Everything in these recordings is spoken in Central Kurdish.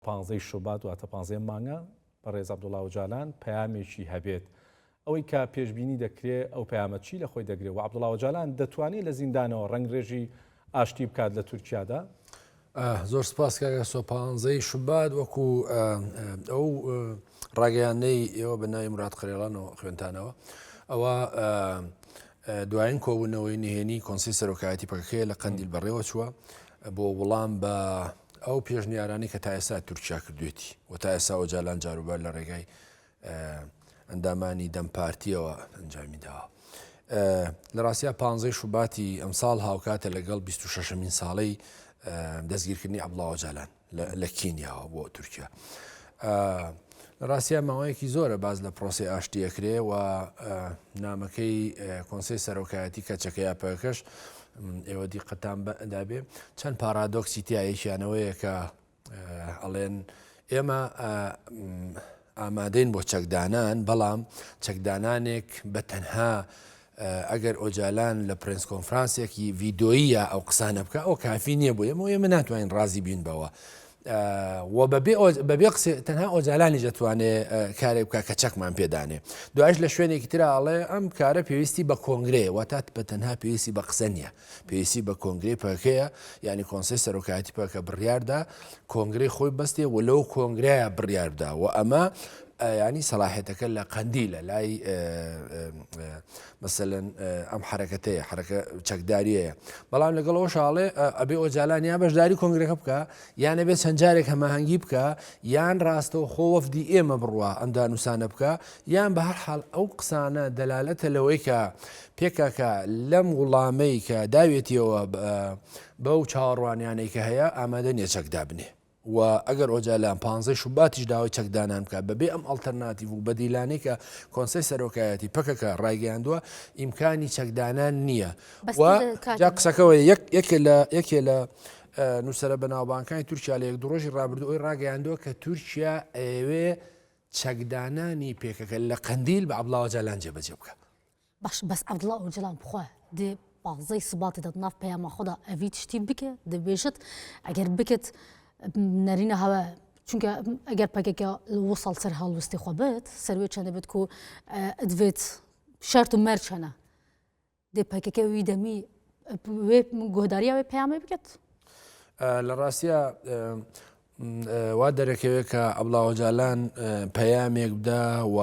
پانزە ی شوبات واتە پانزە ی مانگە بەڕێز عەبدوڵا ئۆجالان پەیامێکی هەبێت ئەوەی کە پێشبینی دەکرێ ئەو پەیامە چی لەخۆی دەگرێ و عەبدوڵا ئۆجالان دەتوانێ لە زیندانەوە ڕەنگرێژی ئاشتی بکات لە تورکیادا؟ زۆر سپاس کاگە سۆ پانزەی شوبات وەکو ئەو ڕاگەیانەی ئێوە بە ناوی مرات قرێڵان و خوێنتانەوە ئەوە دوایین کۆبوونەوەی نهێنی کۆنسی سەرۆکایەتی پەکەکەیە لە قەندیل بەڕێوە چووە بۆ وڵام بە ئەو پێشنیارانەی کە تا ئێستا تورکیا کردوێتی و تا ئێسا ئۆجالان جاروبار لە ڕێگای ئەندامانی دەم پارتیەوە ئەنجامی داوە. لە ڕاستە پ شوباتی ئەمساڵ هاوکاتە لەگەڵ 26مین ساڵی دەستگیرکردنی عبڵاوە جالان لە کینیاوە بۆ تورکیا. لە ڕاستیا ماوەیەکی زۆرە باس لە پرۆسەی ئاشتی ئەکرێ و نامەکەی کۆنسی سەرۆکایەتی کەچەکە یا پەکەش ئێوە دیقەتان دابێ چەند پارادۆکسی تایەکیانەوەیە کە ئەڵێن ئێمە ئامادەین بۆ چەکدانان بەڵام چەکدانانێک بە تەنها ئەگەر ئۆجالان لە پرێنس کۆنفرانسێکی ڤیدۆییە ئەو قسانە بکا ئەوە کافی نییە بۆ ئێمە و ئێمە ناتوانین ڕازی بین بەوە و بەبێ قسێ تەنها ئۆجالانیش دەتوانێ کارێک بکە کە چەکمان پێدانێ دوایش لە شوێنێکی ترراڵێ ئەم کارە پێویستی بە کۆنگرەیە واتات بە تەنها پێویستی بە قسە نییە پێویستی بە کۆنگرەی پەکەیە یعنی کۆنسەی سەرۆکایەتی پەکە بڕیاردا کۆنگرەی خۆی بەستێ و لەو کۆنگرایە بڕیاردا و ئەمە ینی سەلاحێتەکە لە قەندی لە لای مەسەن ئەم حرەکەتەیە حرەکە چەکداریەیە بەڵام لەگەڵ ئەو شاڵێ ئەبێ ئۆجالان یا بەشداری کۆنگرەکە بکە یانە بێت چەند جارێک هەماهنگگی بکە یان ڕاستە و خۆ وەفدی ئێمە بڕوە ئەمدا نووسانە بکە یان بە هەر حال ئەو قسانە دەلالەتە لەوەی کە پکک لەم وڵامەی کە داوێتیەوە بەو چاوەڕوانیانەی کە هەیە ئامادە نیە چەک دابنێ و ئەگەر ئۆجالان پانزەی شوباتیش داوای چەکدانان بکە بەبێ ئەم ئەلتەرناتیڤ و بەدیلانەی کە کۆنسەی سەرۆکایەتی پککە ڕایگەیاندووە ئیمکانی چەکدانان نییە جا قسەکەەوە یەک لە یەکێ لە نووسرە بەناوبانکانی تورکیا لە یەک دڕۆژی ڕابردو ئەوی ڕاگەیاندووە کە تورکیا ئەوێ چەکدانانی پێکەکە لە قندیل بە عبلاوە جالان جێبەجێ بکە باش بەس عەبدوڵا ئۆجەلان بخوا دێ پانزەی سباتی دەت ناف پەیاما خۆدا ئەڤی تشتی بکە دەبێژت ئەگەر بکت نەرینە هەوە چونکە ئەگەر پەکەکە وسەڵ سەر هەڵوستی خۆ بێت سەروێ چەندە بێت و ئەدوێت شەرت و مەرچەنە دێ پەکەکە وی دەمی گۆداریاوی پەیامی بکەت لە ڕاستە وا دەرەکەوێت کە عەبدوڵا ئۆجالان پەیامێک بدا و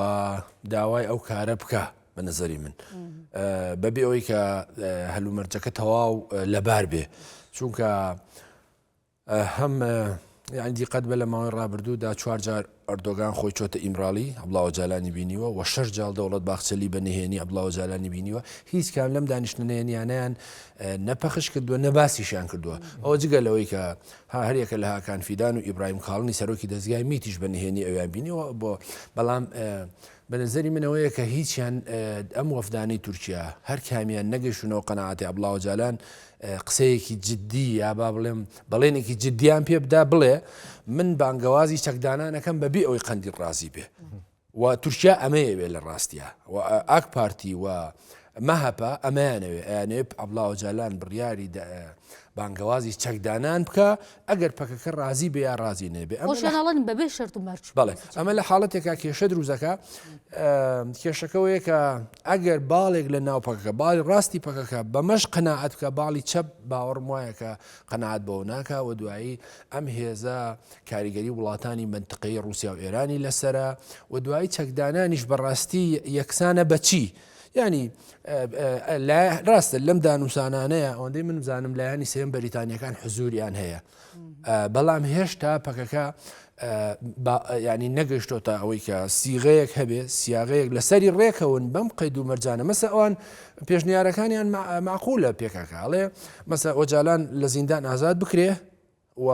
داوای ئەو کارە بکە بە نظری من بەبێ ئەوەی کە هەلومەرجەکە تەواو لەبار بێ چونکە هەم یاندی قەت بە لە ماوەی ڕابردوودا چوارجار ئەردۆگان خۆی چۆتە ئیمراڵی، عەبدوڵا ئۆجالانی بینیوە، و شەش جاڵ دەوڵەت باخچەلی بە نهێنی عەبدوڵا ئۆجالانی بینیوە. هیچ کام لەم دانیشتنە نهێنییانەیان نە پەخش کردووە، نە باسیشیان کردووە. ئەوە جگە لەوەی کە ها هەر یەکە لە هاکان فیدان و ئیبراهیم کاڵنی سەرۆکی دەزگای میتیش بە نهێنی ئەویان بینیوە، بەڵام بە نەزەری من ئەوەیە کە هیچیان ئەم وەفدانەی تورکیا هەر کامیان نەگەیشتونەوە قەناعەتی عەبدوڵا ئۆجالان قسەیەکی جددی یا با بڵێم بەڵێنێکی جددیان پێ بدا بڵێ من بانگەوازی چەکدانانەکەم بەبێ ئەوەی قەندیل ڕازی بێ و تورکیا ئەمەیە بێ لە ڕاستە و ئاک پارتی و مەهەپە ئەمەیانەوێ ئەیانێ عەبدوڵا ئۆجالان بڕیاری بانگەوازی چەکدانان بکە ئەگەر پەکەکە ڕازی بێ یا ڕازی نەبێ ئەمە لە خۆشەناڵن بەبێ شەرت و مەرج بەڵێ بچێت. ئەمە لە حاڵەتێکا کێشە دروزەکە کێشەکەوەیە کە ئەگەر باڵێک لە ناو پەکەکە باڵی ڕاستی پەکەکە بەمەش قەناعەت بکە باڵی چەپ باوەڕم وایە کە قەناعەت بەوە ناکا و دوایی ئەم هێزە کاریگەری وڵاتانی منتقەی ڕووسیا و ئێرانی لەسرە و دوایی چەکدانانیش بەڕاستی یەکسانە بەچی یانی راستە لەم دانوسانانەیە ئەوەندەی من بزانم لایانی سێم بەریتانیەکان حزوریان هەیە بەڵام هێشتا پەکەکە ینی نەگەشتۆتە ئەوەی کە سیغەیەک هەبێ سیاغەیەک لەسەری ڕێکەون بەم قەید و مەرجانە مەسە ئەوان پێشنیارەکانیان معقولە پێکەکەڵێ مەسە ئۆجالان لە زیندان ئازاد بکرێ و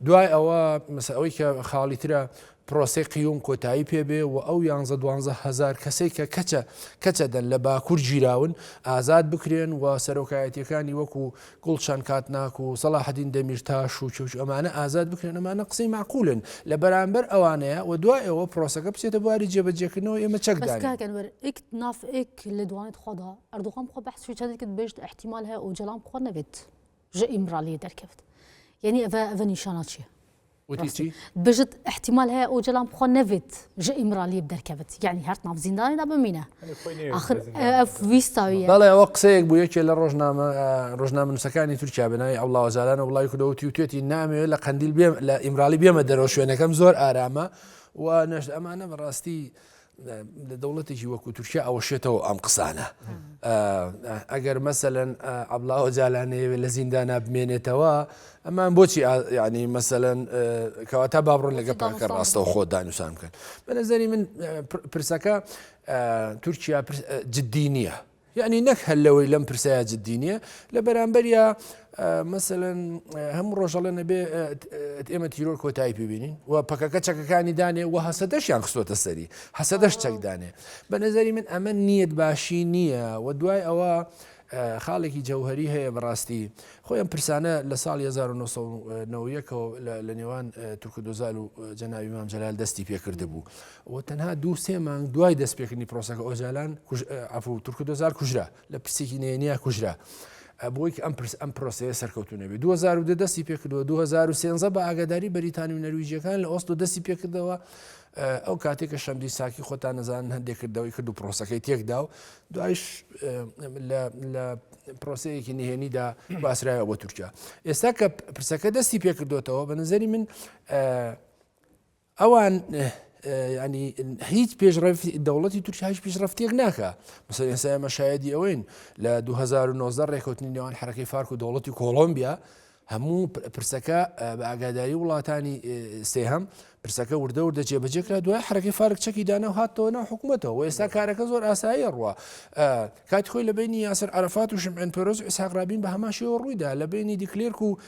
دوای ئەوە مەسە ئەوەی کە خاڵی ترە پرۆسەی قیوم کۆتایی پێبێ و ئەو یانزە دوانزە هزار کەسەی کە کەچە کەچە دەن لە باکوور گیراون ئازاد بکرێن و سەرۆکایەتیەکانی وەکو گوڵچەند کاتناک و سەڵاحدین دەمیرتاش و چوچ ئەمانە ئازاد بکرێن ئەمانە قسەی معقولن لە بەرامبەر ئەوانەیە و دوای ئەوە پرۆسەکە بچێتە بواری جێبەجێکردنەوە ئێمە چەکدانەوەک نافئک لە دوانێت خۆدا ئەردوغم خۆ بەحسوی چەندێکت بێشت احتیمال هەیە ئەو جەڵام خۆ نەبێت. ژە ئیمڕالی دەرکەفت یعنی ئەە ئەە نیشانە چیە بژت احتیمال هەیە ئەو جەلام خۆ نەێت ژە ئیمرالی دەرکەوت یعنی هەرت ناو زیندانیدا بمینە ویستاوی بەڵێ ئەوە قسەیەک بوو یەکێ لە ڕۆژنامە ڕۆژنامە نووسەکانی تورکیا بناوی ئەو لاوەزاران و وڵی کودەوتی و توێتی نامەوێت لە قندیل بێم لە ئیمرالی بێمە دەرەوە شوێنەکەم زۆر ئارامە و نەشت ئەمانە بەڕاستی لە دەوڵەتێکی وەکو تورکیا ئەوە شێتەوە ئەم قسانە ئەگەر مەسەەن ئەبلاوە جالانەیەوێ لە زیندانا بمێنێتەوە ئەمان بۆچی ینی مەسەەن کەواتە بابڕۆن لەگە پاکە ڕاستەوە خۆ دانوسان بکەن بە نظری من پرسەکە تورکیا جددی نییە یەعنی نەک هەر لەوەی لەم پرسەیا جددی نییە، لە بەرامبەریا مەسەلەن هەموو ڕۆژ ئەڵێن ئەبێ ئێمە تیرۆر کۆتایی پێ بینین و پەکەکە چەکەکانی دانێ و هەسەدەشیان خستۆتە سەری هەسەدەش چەک دانێ بە نەزەری من ئەمە نیەت باشی نییە و دوای ئەوە خاڵێکی جەوهری هەیە بەڕاستی خۆیان پرسانە لە ساڵ 1990ەوە لە نێوان تورکدۆزال و جەناوی مام جەلال دەستی پێکرد بوو و تەنها دوو سێ مانگ دوای دەستپێکردنی پرۆسەکە ئۆجالان ئەفو تورک دۆزار کوژرا لە پرسێکی نێنیا کوژرا. بۆی ئەم پرس ئەم پرۆسەیە سەرکەوتونەبێ 2010 دەستی پێکردەوە 2013 بە ئاگاداری بەریتانی و نەرویجیەکان لە ئۆستۆ دەستی پێکردەوە ئەو کاتێک کە شەمدی ساکی خۆتان نەزان هەندێک کردەوەی کرد و پرۆسەکەی تێکدا و دوایش لە پرۆسەیەکی نهێنیدا باسرایە بۆ تورکیا ئێستا کە پرسەکە دەستی پێکردوێتەوە بە نظری من ئەوان ینی هیچ پێشڕێف دەوڵەتی تورکیا هیچ پیشڕفتێک ناکە مەسە ئێستا ئەمە شایدی ئەوەین لە 2009 ڕێکوتنی نێوان حرەکەی فارک و دەوڵەتی کۆڵۆمبیا هەموو پرسەکە بە ئاگاداری وڵاتانی سێهەم پرسەکە وردە وردە جێبەجێکرا دوای حرەکەی فارک چەکی دانا و هاتەوە ناو حکوومەتەوە ئێستا کارەکە زۆر ئاسایی ڕوە کاتی خۆی لە بەینی یاسر عەرەفات و شمعێن پێرۆز و ئیسحاق رابین بە هەمان شێوە ڕوویدا لە بەینی دیکلێرک و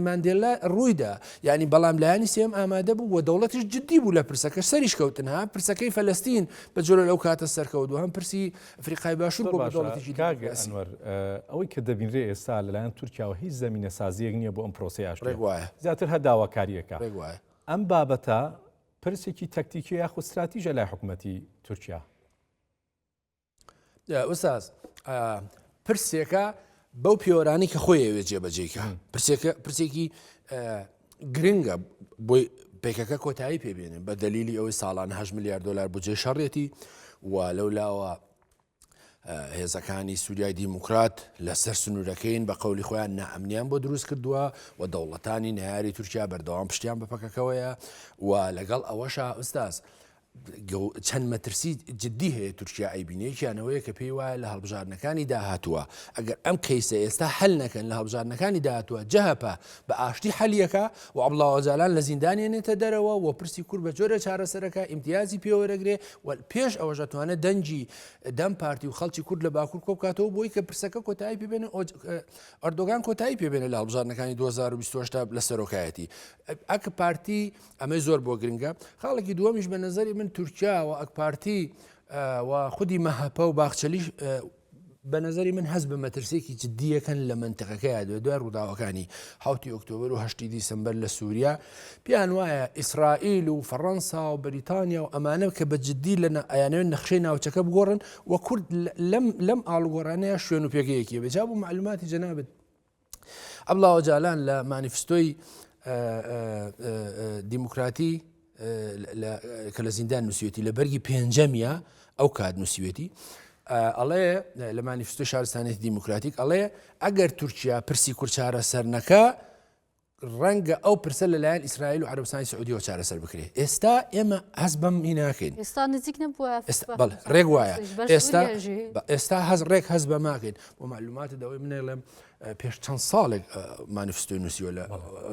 ماندێلا ڕوویدا یعنی بەڵام لایەنی سێم ئامادە بوو و دەوڵەتیش جددی بوو لە پرسەکە سەریش کەوتن ها پرسەکەی فەلستین بە جۆرە لەو کاتە سەرکەوت و هەم پرسی فریقای باشوور بۆ دەوڵەتێکی کاگەسمەر ئەوەی کە دەبینرێ ئێستا لەلایەن تورکیاوە هیچ زمینە سازیەک نییە بۆ ئەم پرۆسی ئاشت وایە زیاتر هە داواکاریەکە ئەم بابەتە پرسێکی تەکتیکی یاخود استراتیژە لای حکوومەتتی تورکیا ئوساز پرسێکە بەو پێوەرانی کە خۆی ئەوێ جێبەجێکە پرسێکی گرنگە بۆی پێکەکە کۆتایی پێبێنێن بە دلیلی ئەوەی ساڵان هە میلیار دلار بجێ شەڕێتی و لەو لاوە هێزەکانی سووریای دیموکرات لەسەر سنوورەکەین بە قولی خۆیان نامنیان بۆ دروست کردووە و دەوڵەتانی ناری تورکیا بەردەوام پشتیان بە پەکەکەوەیە و لەگەڵ ئەوەشا ئوستاز چەند مەترسی جددی هەیە تورکیا ئەیبینێ یەکیانەوەیە کە پێی وایە لە هەڵبژاردنەکانی داهاتووە ئەگەر ئەم کەیسە ئێستا هەل نەکەن لە هەڵبژاردنەکانی داهاتووە جەهپە بە ئاشتی حەلیەکە و عبڵاوەجالان لە زیندانێنێتە دەرەوە و پرسی کورد بە جۆرە چارەسەرەکە ئیمتیازی پێوەرەگرێ و پێش ئەوەژەتوانێت دەنگی دەم پارتی و خەڵکی کورد لە باکوور کۆبکاتەوە بۆی کە پرسەکە کۆتایی پێبێن ئەردۆگان کۆتایی پێبێنە لە هەڵبژاردنەکانی 2020 لە سەرۆکایەتی ئەک پارتی ئەمەی زۆر بۆ گرنگە خاڵێکی دووەمیش بە نظری من تورکیا و ئەکپارتی و خودی مەهەپە و باخچەلیش بە نظری من هەز بە مەترسێکی جددیەکەن لە منتقەکەی دوێ دوای ڕووداوەکانی حوتی ئۆکتۆبر و هەشتی دیسمبەر لە سووریا پێیان وایە ئیسرائیل و فەڕەنسا و بریتانیا و ئەمانە کە بە جددی لە ئەیانوێن نەخشەی ناوچەکە بگۆڕن و کورد لەم لەم ئاڵگۆڕانەیە شوێن و پێگەیەکی بەجا بوو معلوماتی جەنابێت عەبدوڵا ئۆجالان لە مانیفستۆی دیموکراتی کە لە زیندان نووسیوێتی لە بەرگی پێنجەمیە ئەو کات نووسیوێتی ئەڵێ لە مانیفستۆ شارستانێتی دیموکراتیک ئەڵێ ئەگەر تورکیا پرسی کورچارە سەرنەکە ڕەنگە ئەو پرسە لەلایەن ئیسرائیل و عەرەبستانی سعودیەوە چارەسەر بکرێت ئێستا ئێمە هەست بەم ئی ناکەین ئێستا نزیک نەبووە ئێستا بەڵێ ڕێک وایە ئێستا ئێستا هەز ڕێک هەز بە ماکەین بۆ معلوماتە دەوەی منێڵێم پێش چەند ساڵێک مانیفستۆی نووسیوە لە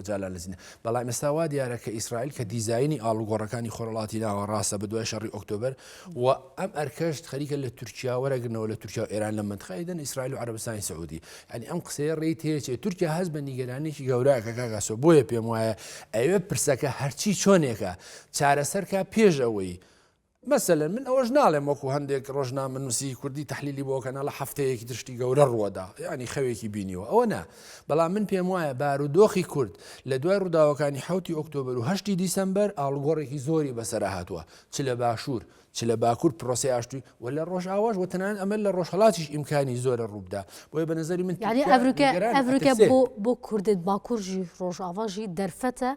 جالان لە زیینە بەڵام ئێستا وا دیارە کە ئیسرائیل کە دیزایانی ئاڵوگۆڕەکانی خۆرڵاتی ناوە ڕاستە بە دوای شەڕی ئۆکتۆبر و ئەم ئەرکەشت خەریکە لە تورکیا وەرەگرنەوە لە تورکیا و ئێران لە منتخای دەن ئیسرائیل و عربستانی سعودی ئەنی ئەم قسەیە ڕێی تێچێ تورکیا هەز بە نیگەرانێکی گەوراکە کاگاسۆ بۆیە پێم وایە ئەوێ پرسەکە هەرچی چۆنێکە چارەسەرکە پێش ئەوەی مەسەلەن من ئەوەش ناڵێم وەکو هەندێک ڕۆژنا منوسی کوردی تحلیلی بۆ کەناڵە هەفتەیەکی درشتی گەورە ڕووەدا ینی خەوێکی بینیوە ئەوە نا بەڵام من پێم وایە بارودۆخی کورد لە دوای ڕووداوەکانی حوتی ئۆکتۆبر و هەشتی دیسمبەر ئاڵگۆڕێکی زۆری بەسەر هاتووە چ لە باشوور، چ لە باکوور پرۆسەی ئاشتی و لە ڕۆژئاواش و تەنانەت ئەمە لە ڕۆژهەڵاتیش ئیمکانی زۆرە ڕووبدا. بۆیە بە نەزەری من تورکیا نیگەرانە، ئەترسێ. بۆ کوردێک باکوورژی ڕۆژئاواژی دەرفەتە،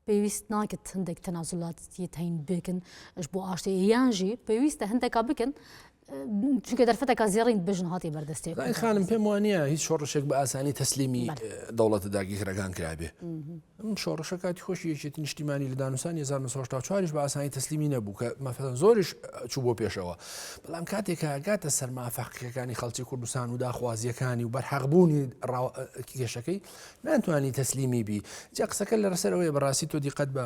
پێویست ناکت هەندێک تەنازولات یەتەین بکن ئش بۆ ئاشتی یانژی پێویستە هەندێکا بکن چونکە دەرفەتەکە زێڕین بژن هاتی بەردەستێک خانم پێم وانە هیچ شۆڕشێک بە ئاسانی تەسلیمی دەوڵەتە داگیرەکان کرابێ شۆڕشە کاتی خۆشی یەکێت نیشتیمانی لە دانوسان 1940 بە ئاسانی تەسلیمی نەبوو کە مەفەن زۆرش چوو بۆ پێشەوە بەڵام کاتێک هاگاتە سەرما فەقیەکانی خەڵکی کوردستان و داخوازیەکانی و بەرحەقبوونی کێشەکەی ناتوانانی تەسلیمی بی جا قسەکە لە ڕسەرەوەی بەڕاستی تۆ دیقەت بە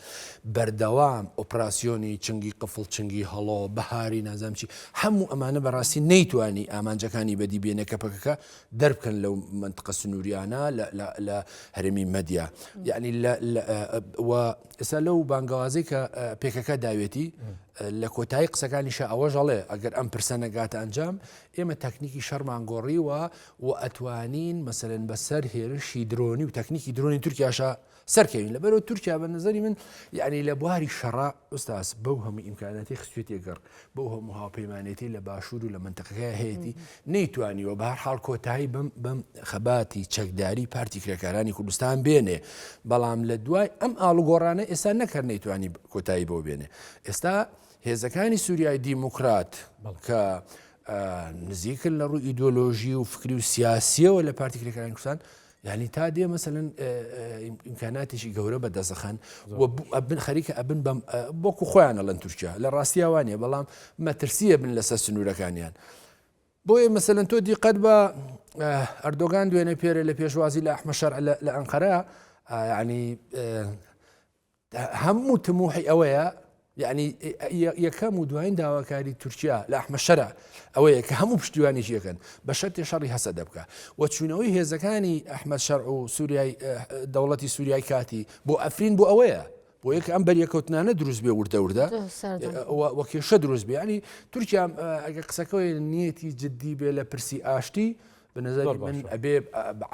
بەردەوام ئۆپراسیۆنی چنگی قفڵ چنگی هەڵۆ بەهاری نازام چی هەموو ئەمانە بەڕاستی نەیتوانی ئامانجەکانی بەدی بێنێ کە پەکەکە دەربکەن لەو منتقە سنووریانە لە هەرێمی مەدیا یعنی ئێستا لەو بانگەوازی کە پێکەکە داوێتی لە کۆتایی قسەکانیشە ئەوەش هەڵێ ئەگەر ئەم پرسە نەگاتە ئەنجام ئێمە تەکنیکی شەرمان گۆڕیوە و ئەتوانین مەسەرن بەسەر هێرشی درۆنی و تەکنیکی درۆنی تورکیاشە سەرکەوین لەبەرەوە تورکیا بە نظری من یعنی لە بواری شەڕا ئوستاس بەو هەموو ئیمکاناتی خستێتی گەڕ بەو هەموو هاوپەیمانێتی لە باشوور و لە منتەقەکە هەیەی نەیتوانیوە بە هەر حاڵ کۆتایی بم بم خەباتی چەکداری پارتی کرێکارانی کوردستان بێنێ بەڵام لە دوای ئەم ئاڵوگۆڕانە ئێستا نەکەر نەیتوانی کۆتایی بۆ بێنێ ئێستا هێزەکانی سووریای دیموکرات بەڵکە نزیکن لە ڕوو ئیدۆلۆژی و فکری و سیاسیەوە لە پارتی کرێکارانی کوردستان یعنی تا دێ مەسەن ئیمکاناتیشی گەورە بە دەزەخەن بن خەریکە ئەبن بەم بۆکو خۆیانە لەن تورکیا لە ڕاستیاوانە بەڵام مەترسیە بن لەسەر سنوورەکانیان. بۆیە مەسەن تۆ دیقەت بە ئەردۆگان دوێنێ پێرە لە پێشوازی لە ئەحمە شەر لە ئەنقەرە ینی هەموو تموحی ئەوەیە یعنی یەکەم و دوایین داواکاری تورکیا لە ئەحمەشەرە ئەوەیە کە هەموو پشتیوانی یەکەن بە شەرتی شەڕی هەسە دەبکە و چوونەوەی هێزەکانی ئەحمد شەر و سووریای دەوڵەتی سووریای کاتی بۆ ئەفرین بۆ ئەوەیە بۆ یەک ئەم بەریەکەوتنانە دروست بێ وردە وردە وەکێشە دروست بیانی تورکیا ئەگە قسەکەی نیەتی جددی بێ لە پرسی ئاشتی بە نظری من ئەبێ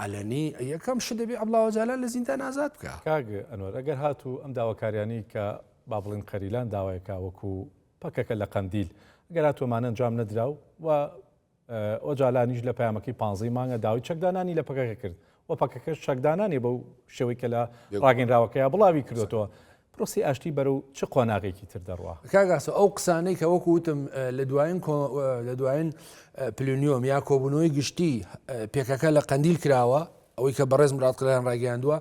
عەلەنی یەکەم شت دەبێ عەبدوڵا ئۆجالان لە زیندان ئازاد بکا کاک ئەنوەر ئەگەر هاتوو ئەم داواکاریانی کە با بڵێن قەریلان داوایەکە وەکو پەکەکە لە قەندیل ئەگەر هاتووەمانە ئەنجام نەدرا و و ئۆجالانیش لە پامەکەی پانزەی مانگە داوای چەکدانانی لە پەکەکە کرد و پەکەکەش چەکدانانی بەو شێوەی کە لە ڕاگەنراوەکەی بڵاوی کردوەوە پرۆسەی ئاشتی بەرەو چ قۆناغێکی تر دەڕوا؟ کاک ئاسۆ ئەو قسانەی کە وەکو وتم لە دوایین لە دوایین پلنیۆم یا کۆبوونەوەی گشتی پێکەکە لە قەندیل کراوە ئەوەی کە بەڕێز مراد قلیان ڕاگەیاندووە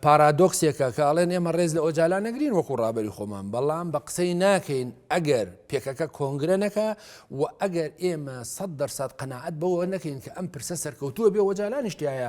پارادۆکسێکە کە ئەڵێن ئێمە ڕێز لە ئۆجالا نەگرین وەکو ڕابری خۆمان بەڵام بە قسەی ناکەین ئەگەر پێکەکە کۆنگرە نەکە و ئەگەر ئێمە سە دەرسات قەنەعەت بەوە نەکەین کە ئەم پرسە سەرکەوتووە بێ وەجالانیشتایە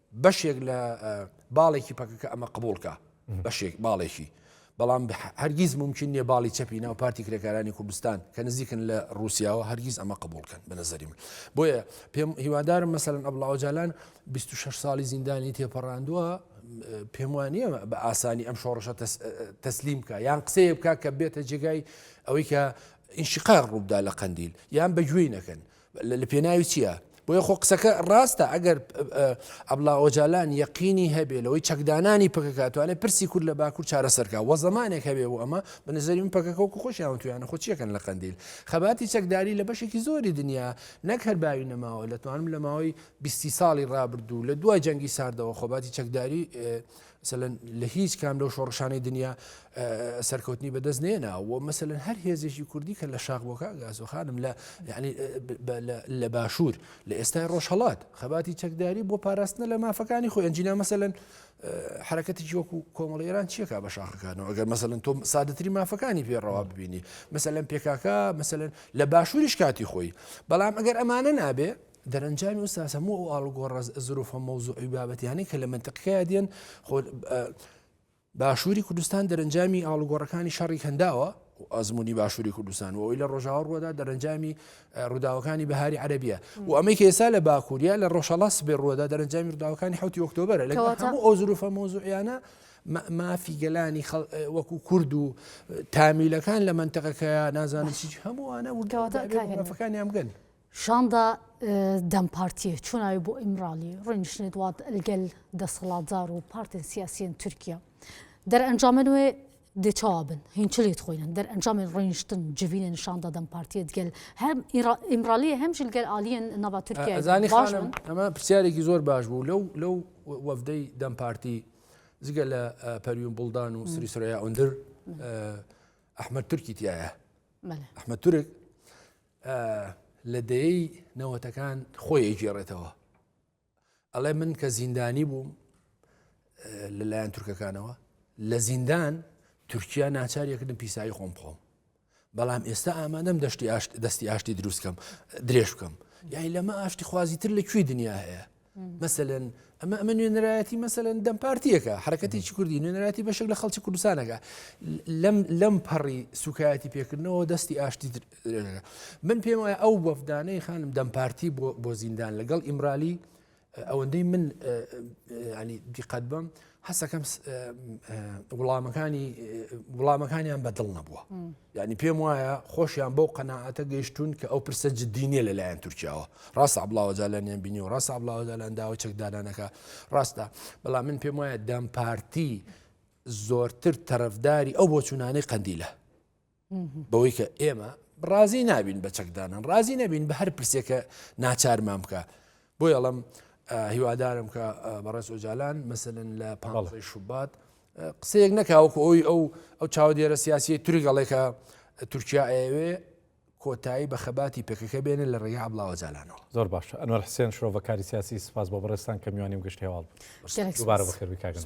بەشێک لە باڵێکی پەکەکە ئەمە قبولکە بەشێک باڵێکی بەڵام هەرگیز ممکن نیە باڵی چەپی ناو پارتی کرێکارانی کوردستان کە نزیکن لە رووسیاوە هەرگیز ئەمە قبولکەن بە نظری من بۆیە پێم هیوادارم مەسەرن ئەبلاوجالان 26 ساڵی زیندانی تێپەڕاندووە پێم وانە بە ئاسانی ئەم شۆڕشە تەسلیم بکە یان قسەیە بکە کە بێتە جێگای ئەوەی کە ئینشقاق ڕووبدا لە قندیل یان بەگوێی نەکەن لە پێناوی چیە؟ بۆیە خۆ قسەکە ڕاستە ئەگەر ئەبلا ئۆجالان یەقینی هەبێ لەوەی چەکدانانی پکەکاتوانێت پرسی کورد لە باکوور چارەسەرکە وە زمانێک هەبێ بۆ ئەمە بنزەری من پکەکەوەکو خۆشیان تویانە خۆ چیەکەن لە قندیل خەباتی چەکداری لە بەشێکی زۆری دنیا نەک هەر باوی نەماوە لەتوانم لە ماوەی بیستی ساڵی ڕابردوو لە دوای جەنگی ساردەوە خۆباتی چەکداری مەسەلەن لە هیچ کام لەو شۆڕشانەی دنیا سەرکەوتنی بەدەست نێناوە مەسەلەن هەر هێزێکی کوردی کە لە شاخ بۆ کاگازۆ خانم لە لە باشوور لە ئێستای ڕۆژهڵات خەباتی چەکداری بۆ پاراستنە لە مافەکانی خۆ ئەنجینا مەسەلەن حرەکەتی وەکو کۆمەڵ ئێران چیەکە بە شاخەکانەوە ئەگەر مەسەن تۆ سادەتری مافەکانی پێڕەوا ببینی مەسەلەن پێکاکە مەسەن لە باشووریش کاتی خۆی بەڵام ئەگەر ئەمانە نابێ دەرەنجامی ئوستاز هەموو ئەو ئاڵوگۆڕە زروفە مەوزوعی بابەتیانەی کە لە منتقەکەیا دێن باشووری کوردستان دەرەنجامی ئاڵوگۆڕەکانی شەڕی کەنداوە ئەزمموی باشووری کوردستان و ئەوی لە ڕۆژاوە ڕوەدا دەرەنجامی ڕووداوەکانی بەهاری عەربیە و ئەمەی کە ئێستا لە باکووریا لە ڕۆژەڵا سبێ ڕوەدا دەرەنجامی ڕووداوەکانی حوتی ئۆکتۆبرە لە ئەو زروفە مۆزوعیانە مافی گەلانی وەکو کورد و تامیلەکان لە منتەقەکەیان نازانن چی هەمووانە وردەوەتەکانیان بگەن. شاندا دەم پارتیە چۆن ئاوی بۆ ئیمرالی ڕینشنێت وات ئەلگەل دەسەڵاتدار و پارتێن سیاسیەن تورکیا دەرئەنجامە نوێ دێچوابن هینچلێت خۆینن دەرئەنجامی ڕینشتن جوینە نیشاندا دەم پارتیت گەل هەم ئیمرالی هەمژل گەل عالیەن ناوا تورکیا زانی خانم ئەمە پرسیارێکی زۆر باش بوو لەو لەو وەفدەی دەم پارتی جگە لە پەریون بڵدان و سری سرەیە ئەندر ئەحمد تورکی تایە ئەحمد تورک لە دەیەی نەوەتەکان خۆی ئەیگێڕێتەوە ئەڵێ من کە زیندانی بووم لەلایەن تورکەکانەوە لە زیندان تورکیا ناچاریەکردن پیسایی خۆم بخۆم بەڵام ئێستا ئامادەم دەشتی ئاشت دەستی ئاشتی دروستکەم درێژ بکەم یای لەمە ئاشتی خوازی تر لە کوێی دنیا هەیە مەسەلەن ئەمە ئەمە نوێنەرایەتی مەسەلەن دەم پارتیەکە حرکەتێکی کوردی نوێنەراتی بەشێک لە خەڵکی کوردستانەکە لەم لەم پەڕی سوکایەتی پێکردنەوە دەستی ئاشتی من پێم وایە ئەو وەفدانەی خانم دەم پارتی بۆ زیندان لەگەڵ ئیمرالی ئەوەندەی من دیقەت بم هەسەکەم وڵامەکانی وڵامەکانیان بەدڵ نەبووە یعنی پێم وایە خۆشیان بەو قەنەعاتە گەیشتون کە ئەو پرسە جددینە لەلایەن تورکیاوە ڕاستە بڵاوەجالانیان بینی و ڕاستە بڵاوەجالان داوە چەکدارانەکە ڕاستە بەڵام من پێم وایە دەم پارتی زۆرتر تەرەفداری ئەو بۆچوونانەی قەندیلە بەوەی کە ئێمە ڕازی نابین بە چەکدانان ڕازی نەبین بە هەر پرسێکە ناچارمان بکە بۆ یاڵم هیوادارم کە بەڕێز ئۆجالان مثلن لە پ شوبات قسەیەک نەکاوەکو ئەوی ئەو ئەو چاوە دێرە سیاسی تورگەڵێکە تورکیا ئەوێ کۆتایی بە خەباتی پێکەکە بێنە لە ڕێگە عبڵاوە جالانەوە زۆر باش ئەنوەر حسێن شرۆڤەکاری سیاسی سپاس بۆ بەڕێستان کە میوانیم گشت هێواڵ بوو بەخێربی کاگەن